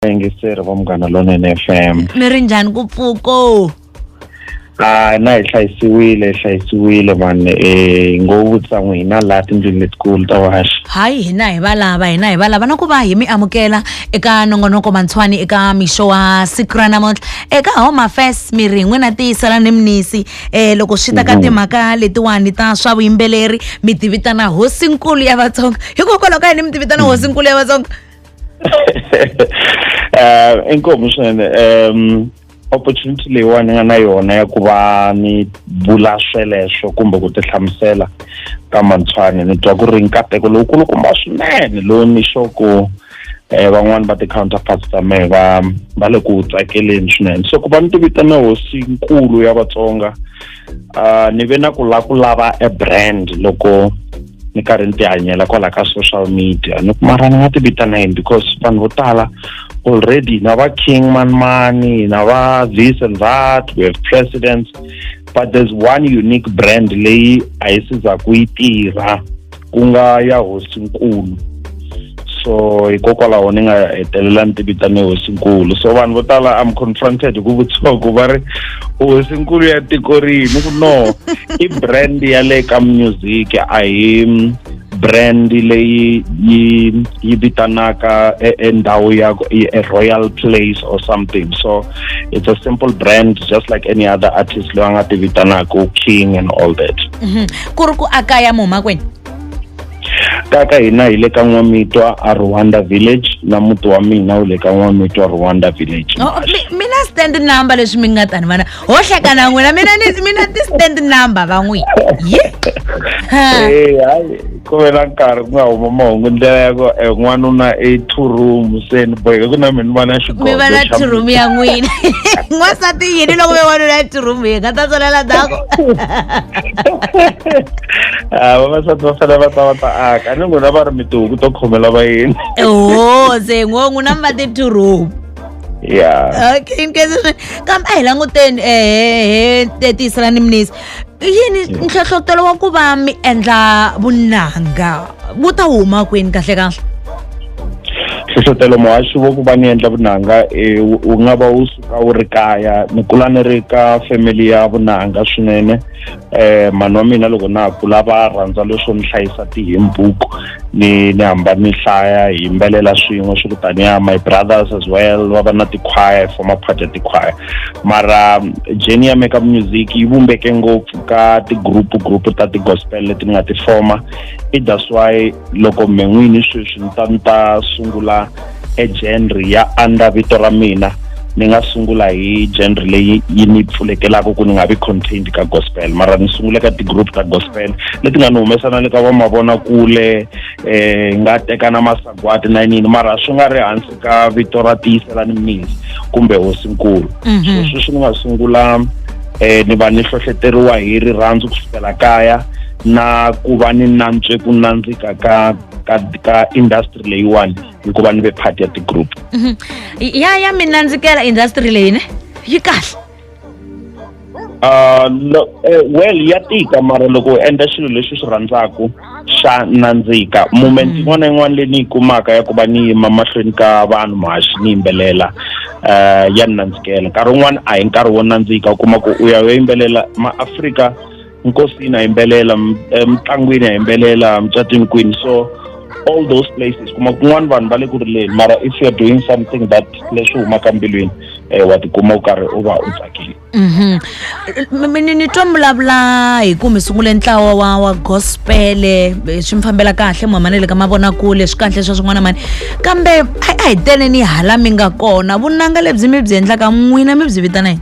yingiseri va munghana lonene f m mi ri njhani ku pfuko a na hi hlayisiwile hi hlayisiwile vanhu um ngo vutisa n'wi hina laha tindlwini letikulu ta vaxi hayi hina hi valava hina hi valava na ku va hi mi amukela eka nongonoko mantshwani eka mixo wa siku ra namuntlha eka home affairs mi ri hi n'wina tiyisela ni minisi um loko swi ta ka timhaka letiwani ta swa vuyimbeleri mi tivitana hosinkulu ya vatsonga hikokwalaho ka yini mi tivitana hosinkulu ya vatsonga eh inkomo swinene um opportunity leyiwani ni nga na yona ya ku va ni vula sweleswo kumbe ku tihlamusela ka mantshwani ni twa ku ri nkateko lowukulukumba swinene lowu ni xo ku um eh, van'wani va ti-counterparts ta mehe va va le ku tsakeleni swinene so ku va ni tivitana hosinkulu ya vatsonga uh, ni ve na ku la ku lava a brand loko ni karhi ni tihanyela kwala ka social media ni mara ni nga ti vita na yini because vanhu vo tala already na va king manmani na va this and that we have presidents but there's one unique brand leyi a yi sizaku yi tirha ku nga ya hosinkulu so hikokwalaho ni nga hetelela ni tivitane hosinkulu so vanhu vo tala am confronted hi ku vutisiwa ku va ri hosinkulu ya tiko rihi ni ku no i brand ya le ka music a hi brand leyi yi yi vitanaka e, e ndhawu ya e, a royal place or something so it's a simple brand just like any other artist loyi a nga ti vitanaku king and all that mm -hmm. ku ri ku a kaya muhumakwini kaya ka hina hi le ka n'wamitwa a rwanda village na muti wa mina wu le ka n'wamitwa rwanda village oh, mina stand number leswi mi nga ta ni vana ho hlekana n'wina mina mina ti stand number va n'wi ye eh, hayi ku ve na nkarhi ku nga huma mahungu ndlela ya ku eh, n'wanuna i two room se ni boheke ku na mi ni vana xigomi va na two room ya n'wina n'wansati yini loko ve wanuna ya two room yi nga ta tswalela dako Ah, vavasati va fanele va ta va ta aka ni n'wina va ri mi tihuku to khomela vayeni oho se ngo n'wi na mi va titurupu ya okay inkosi swinene kambe a hi languteni ehe te tiyisela ni minisi yini nhlohlotelo wa ku va mi endla vunanga wu ta huma kwini kahle kahle hlohlotelo muhaxi wo ku va ni endla vunanga um wu nga va wu ka wu ri kaya ni kula ni ri ka family ya vunanga swinene eh mhani wa mina loko na ha kula va rhandza leswo ni hlayisa ti-hymn book ni ni hamba ni hlaya hi yimbelela swin'we swi kutaniya my brothers as well va va na ti-choir hi forma part ya ti-choir mara jeni ya me ka music yi vumbeke ngopfu ka ti-group group ta ti-gospel leti ni nga ti forma i that's why loko me n'wini sweswi ni ta ni ta sungula ejenri ya under vito ra mina ni nga sungula hi genre leyi yi ni pfulekelaka ku ni nga vi contained ka gospel mara ni sungule ka ti-group ta gospel leti nga ni humesa na le ka vamavonakule eh nga teka na masagwati na yinini mara swi nga ri hansi ka vito ra tiyiselani mnisi kumbe hosinkulu mhm. so sweswi ni nga sungula eh ni va ni hlohleteriwa hi rirhandzu ku fikela kaya na ku va ni nantswe ku nandzika ka ka ka industry leyiwani hikuva ni ve part ya ti-group Mhm. ya ya mi nandzikela industry leyi ne yi kahle Ah, lo- eh, well ya tika mara loko u endla xilo lexi u xi rhandzaka xa nandzika moment yin'wana na yin'wana leyi ni yi kumaka ya ku va ni yima mahlweni ka vanhu mahaxi ni yimbelela um ya ni nandzikela nkarhi wun'wana a hi nkarhi wo nandzika u kuma ku u ya u ya yimbelela maafrika nkosini ha yimbelela emitlangwini ha yimbelela mucatwini kwini so all those places kuma kun'wana vanhu va le ku rileni mara if you're doing something that leswi humaka mbilwini um wa tikuma u karhi u va u tsakile Mhm. Mi- mi- ni ni twa mi vulavula hi ku mi sungule ntlawa wa wa gospele eh, swi mi fambela kahle mhama na le ka mavonakule swi kahle swa swin'wana mani kambe a a hi tele ni hala mi nga kona vunanga lebyi mi byi endlaka n'wina mi byi vitana yini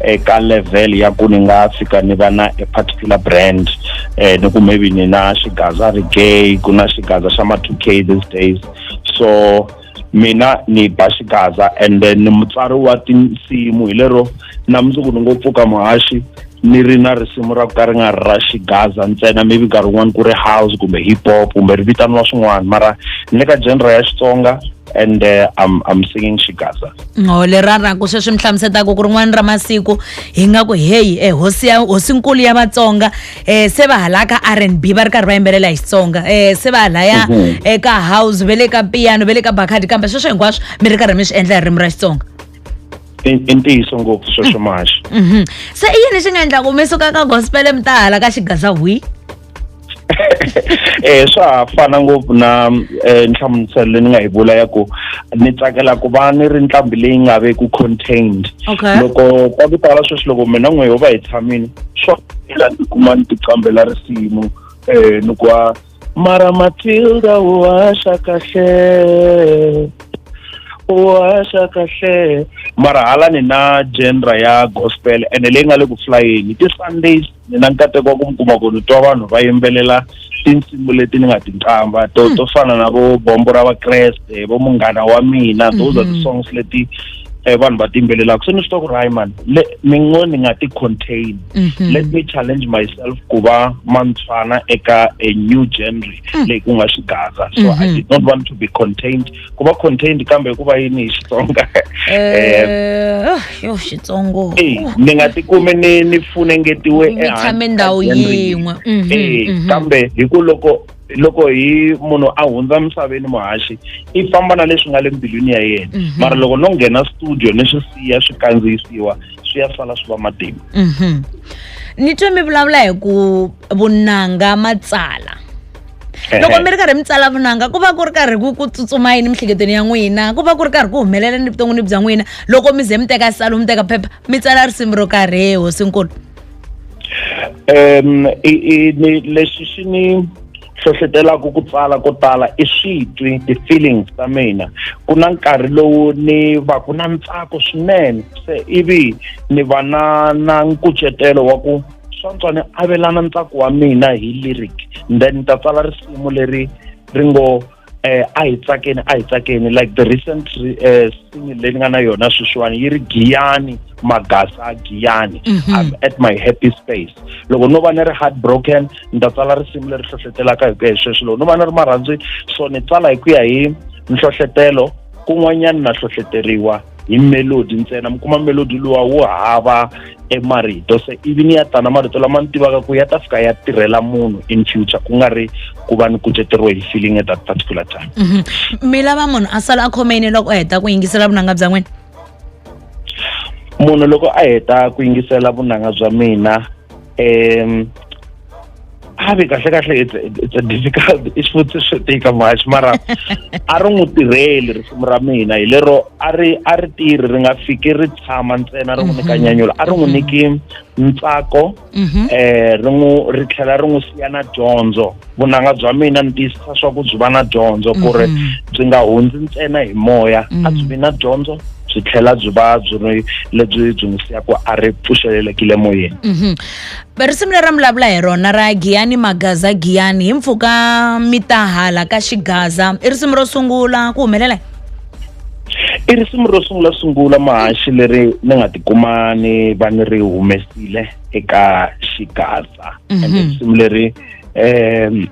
eka level ya ku ni nga fika ni va na a particular brand eh ni ku maybe ni na xigaza ri gay ku na xigaza xa ma 2k these days so mina ni ba xigaza and then ni mutsari wa tinsimu hi lero na mundzuku ni ngo pfuka muhaxi ni ri na risimu ra ku ka ri nga ri ra xigaza ntsena maybe nkarhi wun'wani ku ri house kumbe hip hop kumbe ri vitaniwa swin'wana mara ni le ka genre ya xitsonga and uh, I'm, I'm singing Shigasa. ngo lerara ku sweswi mi hlamusetaka ku rin'wana ra masiku hi nga ku heyi eh, hosi ya hosinkulu ya vatsonga eh, se va hala ka r and b va ri karhi va yimbelela hi xitsonga eh, se va halaya Mhm. eka house ve le ka piano ve le ka bakhadi kambe sweswo hinkwaswo mi ri karhi mi swi endla hi ririmi ra xitsonga I i ntiyiso ngopfu sweswo maxa. Mhm. se i yini xi nga endlaku mi suka ka gospel mi ta hala ka xigaza hwi eh swa ha fana ngopfu na eh, nhlamuselo leyi ni nga yi vula ya ku ni tsakela ku va ni ri nqambi leyi nga ve ku contained okay. loko ka ku tala sweswi loko mina n'we ho va hi tshamini swa ela ni kuma ni tiqambela risimu um eh, ni ku a mara matilda u haxa kahle u haxa kahle mara hala ni na genre ya gospel ene leyi nga le ku flyeni ti-sundays ni na nkateko wa ku mi kuma ku ni twa vanhu va yimbelela tinsimu leti ni nga tinqamba to to fana na vo bombo ra vakreste vo munghana wa mina those are the songs leti eh, vanhu va tiyimbelelaka se ni swi twa ku ri hayi mani le ni ngo ni nga ti-contain let me challenge myself ku va mantshwana eka a new genre leyi ku nga xigaza so i did not want to be contained ku va contained kambe hi ku va yini hi xitsonga Eh, ah, yo xitsongo Eh, ni nga tikumi ni ni funengetiwe mi ehansi tshame ka ndhawu gender leyi. yin'we Mhm, Eh, mhm. kambe hi ku loko loko hi munhu a hundza misaveni muhaxi i famba na leswi nga le mbilwini ya yena Mhm. mara loko no nghena studio ni swi siya swi kandziyisiwa swi ya sala swi va matimba Mhm. ni twe mi vulavula hi ku vunanga matsala loko mi ri karhi mi tsala vunanga ku va ku ri karhi ku ku tsutsuma yini mihleketweni ya n'wina ku va ku ri karhi ku humelela ni vuton'wini bya n'wina loko mi ze mi teka salo mi teka phepha mi tsala risimu ro karhi he hosinkulu um lexi xi ni hlohletelaka ku tsala ko tala i switwi ti-feelings ta mina ku na nkarhi lowu ni va ku na ntsako swinene se ivi ni va na na nkucetelo wa ku swantswani avelana ntsako wa mina hi lyric then ni ta tsala risimu leri ri ngo eh a hi tsakeni a hi tsakeni like the recent eh single leyi ni nga na yona sweswiwani yi ri giyani magasa giyani Mhm. i'm at my happy space loko no va ni ri heartbroken ni ta tsala risimu leri hlohletelaka hi ku ya hi sweswo loko no va ni ri marhandzwini so ni tsala hi ku ya hi nhlohletelo kun'wanyana na hlohleteriwa hi melodi ntsena mi kuma melodi luwa wu hava emarito se ivi ni ya tana marito lama ni tivaka ku ya ta fika ya tirhela munhu in future ku nga ri ku va ni kuceteriwe hi feeling at that particular time mhm. mi lava munhu a sala a khomeni loko a heta ku yingisela vunanga bya n'wina munhu loko a heta ku yingisela vunanga bya mina um a ve kahle kahle it's a difficult i xivutiso xo tika muhaxi mara a ri n'wi tirheli risimu ra mina hi lero a ri a ri tirhi ri nga fiki ri tshama ntsena ri n'wi nyika mhm. nyanyula a ri n'wi mhm. niki ntsako um ri n'wi ri tlhela ri n'wi siya na dyondzo vunanga bya mina ni tiyisisa swa ku byi va na dyondzo ku ri mhm. byi nga hundzi ntsena hi moya a mhm. byi vi na dyondzo byi tlhela byi va byi ri lebyi byi n'wi siyaka a ri pfuxelelekile moyeni mhm. risimu leri vulavula hi rona ra giyani magaza giyani hi mpfhuka mi ta hala ka xigaza i risimu ro sungula ku humelela i risimu ro sungula sungula mahaxi leri ni nga tikuma ni va ni ri humesile eka xigaza ende risimu leri um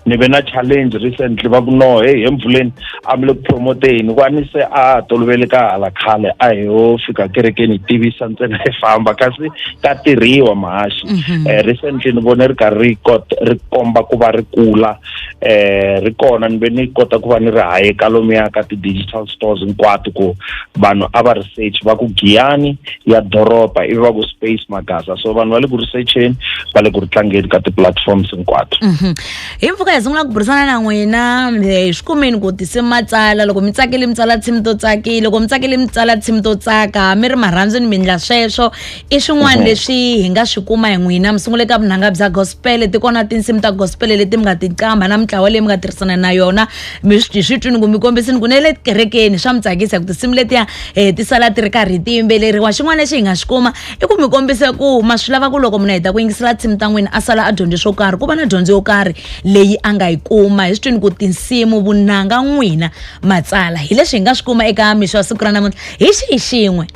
ni ve na challenge recently va ku no heyi empfuleni a mi le ku promoteni ku a ni se a tolovele ka hala khale a hi yo fika kerekeni hi tivisa ntsena hi famba kasi ka tirhiwa mahaxi um recently ni vone ri karhi ri kota ri komba ku va ri kula um ri kona ni ve ni kota ku va ni ri haye ka lomuya ka ti-digital stores hinkwato ku vanhu a va research va ku giyani ya doroba ivi va ku space magasa so vanhu va le ku researcheni va le ku ri tlangeni ka ti-platforms hinkwato mhm. hi mpfuka hi sungula ku burisana na n'wina hi swi kumeni ku tise matsala loko mi tsakile mi tsala tshimi to tsakile loko mi tsakile mi tsala tshimi to tsaka mi ri marhandzu ni mi ndla sweswo i swin'wana mhm. leswi hi nga swi kuma hi n'wina mi sungule ka vunanga bya gospele ti kona tinsimu ta gospele leti mi nga ti qamba na mitlawa leyi mi nga tirhisana na yona mi swi swi twini ku mi kombisini ku ne le kerekeni swa mi tsakisa ku tinsimu letiya um ti sala ti ri karhi ti yimbeleriwa xin'wana lexi hi nga xi kuma i ku mi kombisa ku ma swi lava ku loko munhu a heta ku yingisela tinsimu ta n'wina a sala a dyondze swo karhi ku va na dyondzo yo karhi leyi a nga yi kuma hi swi twini ku tinsimu vunanga n'wina matsala hi leswi hi nga swi kuma eka mixo wa siku ra namuntlha hi xihi xin'we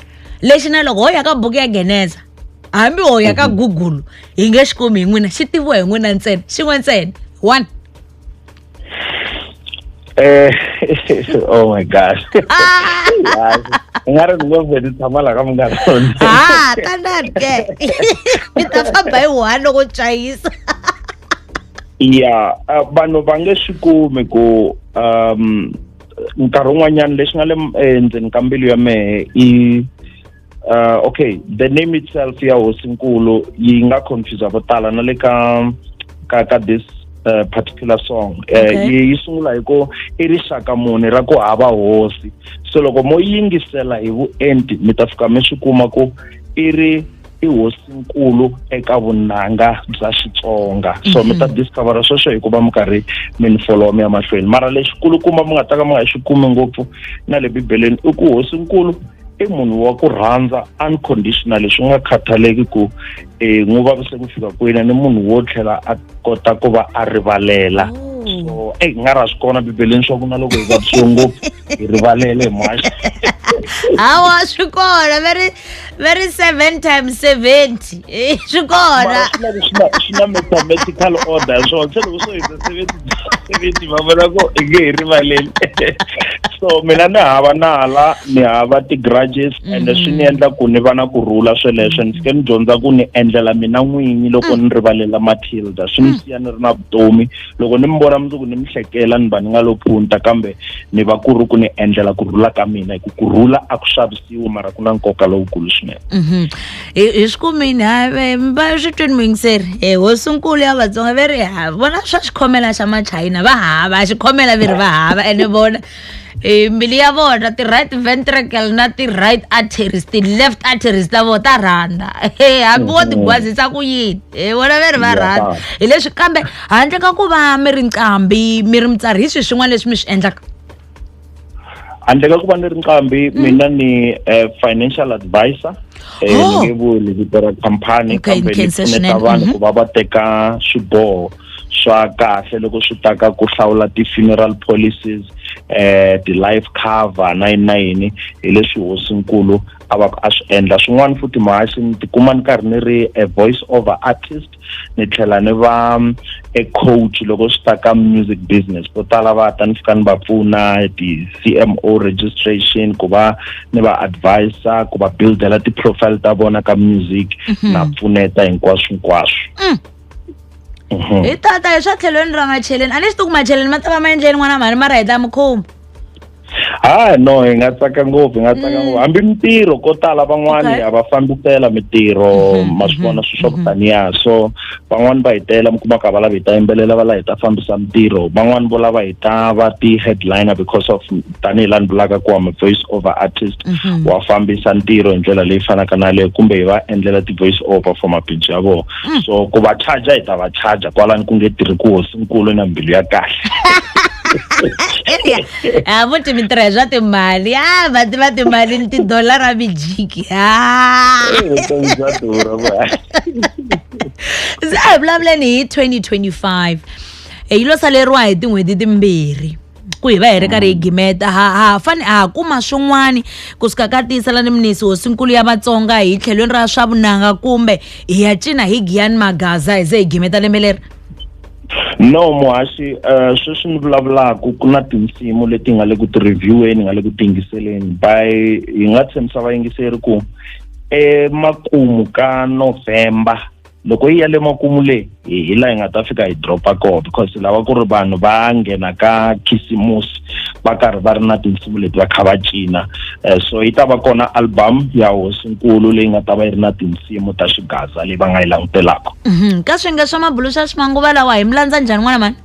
lexi na loko ho ya ka buku ya geneza hambi ho ya ka google hi nge xi kumi hi n'wina xi tiviwa hi n'wina ntsena xin'we ntsena one Eh, oh my gosh. Hi. Nga ri ni ngo vhe ni tshama la ka munghana lonene. ha tanani ke mi ta famba hi one loko chayisa Yeah, uh, vanhu va nge swi kumi ku um nkarhi wun'wanyana lexi nga le m- endzeni ka mbilu ya mehe i uh, okay the name itself ya hosinkulu yi nga confuse vo tala na le ka ka ka this uh, particular song uh, okay. yi, yi sungula hi ku i rixaka muni ra ku hava hosi so loko mo yingisela hi vuenti mi ta fika mi swi kuma ku i ri i hosinkulu eka vunanga bya xitsonga so mi ta mhm. discovera sweswo hikuva mi karhi mi ni followa mi ya mahlweni mara lexikulukumba mi nga ta ka mi nga xi kumi ngopfu na le bibeleni i ku hosinkulu i munhu wa ku rhandza unconditionally swi nga khathaleki ku um eh, n'wi vavise ku fika kwini ni munhu wo tlhela a kota ku va a rivalela oh. so eyi nga ra swi kona bibeleni swa ku na loko hi vavisiwe ngopfu hi rivalele hi mhaxa hawa swi kona very very seven times seventy Eh, swi kona mara swi lava swi na- swi na mathematical order ya swona se loko swo hundza seventy seventy va vona ko i nge hi rivaleli so mina ni hava nala ni hava ti-grudges and swi ni endla ku ni va na ku rhula sweleswo ni fike ni dyondza ku ni endlela mina n'winyi loko ni rivalela matilda swi ni siya ni ri na vutomi loko ni mi vona mundzuku ni mi hlekela ni va ni nga lo phunta kambe ni va ku ri ku ni endlela ku rhula ka mina hi ku ku rhula a ku xavisiwi mara ku na nkoka lowukulu swinene Mhm. hi hi swi kumini ha ve mi va swi twini muyingiseri e hosinkulu ya vatsonga ve ri ha vona swa xikhomela xa machayina va hava a xikhomela ve ri va hava ene vona e mbilu ya vona ti-right ventricle na ti-right arteries ti-left arteries ta vona ta rhandza e hambi wo tigwazisa ku yini e vona ve ri va Ya, rhandza ba. hi leswi kambe handle ka ku va mi ri nqambi mi ri mutsari hi swi swin'wana leswi mi swi endlaka handle ka ku va ni ri nqambi mm. mina ni eh, financial advisor eh, oh. ni nge vuli vito ra khampani kambe ni pfuneta vanhu mm-hmm. ku va va teka swiboho swa kahle loko swi ta ka ku hlawula ti-funeral policies eh ti-life cover na yini na yini hi leswi hosinkulu a va a swi endla swin'wana futhi mahasi ni tikuma ni karhi ni ri a voice over artist ni tlhela ni va e coach loko swi ta ka music business vo tala va ta ni fika ni va pfuna ti-cmo registration ku va ni va advisa ku va buildela ti-profile ta vona ka music mhm. na pfuneta hinkwaswo hinkwaswo mm. mhm. hi tata hi swa tlhelweni ra macheleni a ni swi tiku macheleni ma ta va ma endleni n'wana mhani ma ra hi ta mukhumba ha no hi nga tsaka ngopfu hi nga tsaka ngopfu hambi mintirho ko tala van'wani Okay. a va fambisela mintirho Mhm, ma swi vona mhm, swilo swa ku mhm. taniya so van'wani va hi tela mi kuma ka va lava hi ta yimbelela va lava hi ta fambisa mintirho van'wani vo lava hi ta va ti-headliner because of tanihi la ni vulaka ku am a voice over artist Mhm. wa fambisa ntirho hi ndlela leyi fanaka na leyo kumbe hi va endlela ti-voice over for mabindzu ya vona so ku va charger hi ta va charger kwalani ku nge tirhi ku hosinkulu na mbilu ya kahle India. Ah, muti mi tirha hi swa timali. Ah, va tiva timali ni tidolara mi jiki. Ah. vutomi bya durha va Se a hi vulavuleni hi 2025. Hi lo saleriwa hi tin'hweti timbirhi. ku hi va hi ri karhi hi gimeta ha ha fane ha kuma swin'wani ku suka ka tiyisela ni minisi hosinkulu ya vatsonga hi tlhelweni ra swa vunanga kumbe hi ya cina hi giyani magaza hi ze hi gimeta lembe leri no muhaxi um sweswi ni vulavulaka ku na tinsimu leti nga le ku ti-revieweni nga le ku tiyingiseleni by hi nga tshembisa vayingiseri ku emakumu ka novhemba loko yi ya le makumu le hi hi la hi nga ta fika hi dropa koho because lava ku ri vanhu va nghena ka khisimusi va karhi va ri na tinsimu leti va kha va cina um so yi ta va kona album ya hosinkulu leyi nga ta va yi ri na tinsimu ta xigaza leyi va nga yi langutelaka Mhm. ka swinge swa mabulu swa swimanguva lawa hi mi landza njhani n'wana mani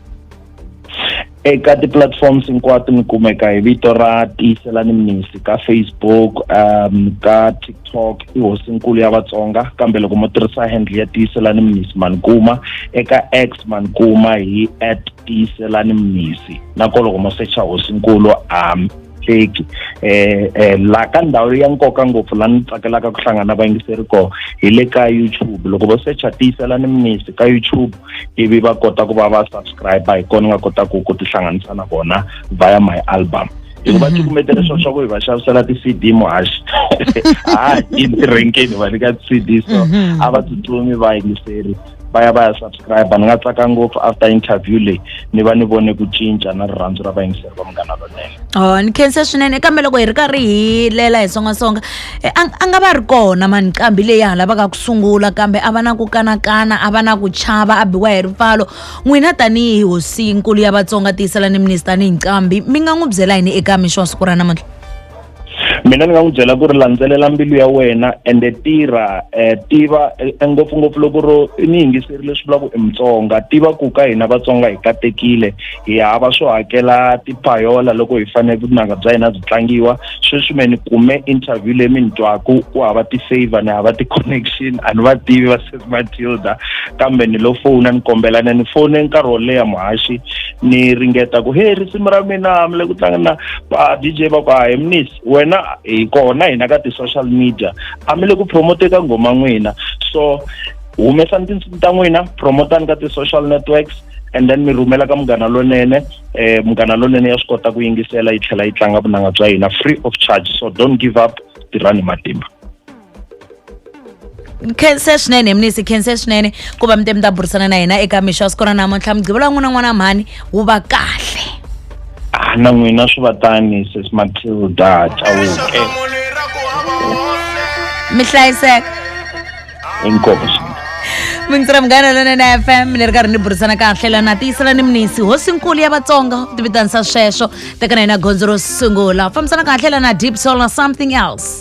eka ti-platforms hinkwato mi kumeka hi vito ra tiyiselani mnisi ka facebook um ka tiktok i hosinkulu ya vatsonga kambe loko mo tirhisa handle ya tiyiselani mnisi manikuma eka x manikuma hi at tiyiselani mnisi nako loko mo secha hosinkulu um hleki eh eh la ka ndhawu ya nkoka ngopfu la ni tsakelaka ku hlangana vayingiseri ko hi le ka YouTube loko vo secha tiyisela ni minisi ka YouTube ivi va kota ku va va subscribe hi kona nga kota ku ku tihlanganisa na vona via my album hikuva mhm. ti kumete leswo swa ku hi va xavisela ti-cd muhaxi ha yi renkeni va nyika ti-cd so mhm. a va tsutsumi va yingiseri va ya va ya subscribe ni nga tsaka ngopfu after interview leyi ni va ni vone ku cinca na rirhandzu ra vayingiseri va munghana lonene oh ni khensa swinene kambe loko hi ri karhi hi lela hi songasonga eh, a a nga va ri kona mani nqambi leyi ha lavaka ku sungula kambe a va na ku kanakana a va na ku chava a biwa hi ripfalo n'wina tanihi hosinkulu ya vatsonga tiyisela ni minisi tanihi nqambi mi nga n'wi byela yini eka mixo wa siku ra namuntlha mina ni nga n'wi byela ku ri landzelela mbilu ya wena ende tirha um tiva eh, ngopfungopfu loko ro ni yingiseri leswi vulaka i mutsonga tiva ku ka hina vatsonga hi katekile hi hava swo hakela tipayola loko hi fanele vunanga bya hina byi tlangiwa sweswi me ni kume interview leyi mi ni twaku ku hava ti-favor ni hava ti-connection a ni va tivi va sesi matilda kambe ni lo fona ni kombela ni ni fone nkarhi wo leha muhaxi ni ringeta ku he risimu ra mina mi le ku tlanga na va DJ va ku a hi minis wena hi kona hina ka ti-social media a mi le ku promote ka nghoma n'wina so humesani tinsimu ta n'wina promotani ka ti-social networks and then mi rhumela ka munghana lonene um munghana lonene ya swi kota ku yingisela yi tlhela yi tlanga vunanga bya hina free of charge so don't give up tirhani matimba nkhense swinene mnisi nkhense swinene ku va mi te mi ta burisana na hina eka mixo wa siku ra namuntlha mugqivelo wa n'wina n'wana mhani wu va kahle Ah, na n'wina swi va tani sis matilda chauke mi hlayiseka inkopo swinene mintsira munghana lona na fm ni ri karhi ni burisana kahle lana tiyisela ni minisi hosinkulu ya vatsonga ti vitanisa sweswo teka na hina gondzo ro sungula fambisana kahle lana deep solar something else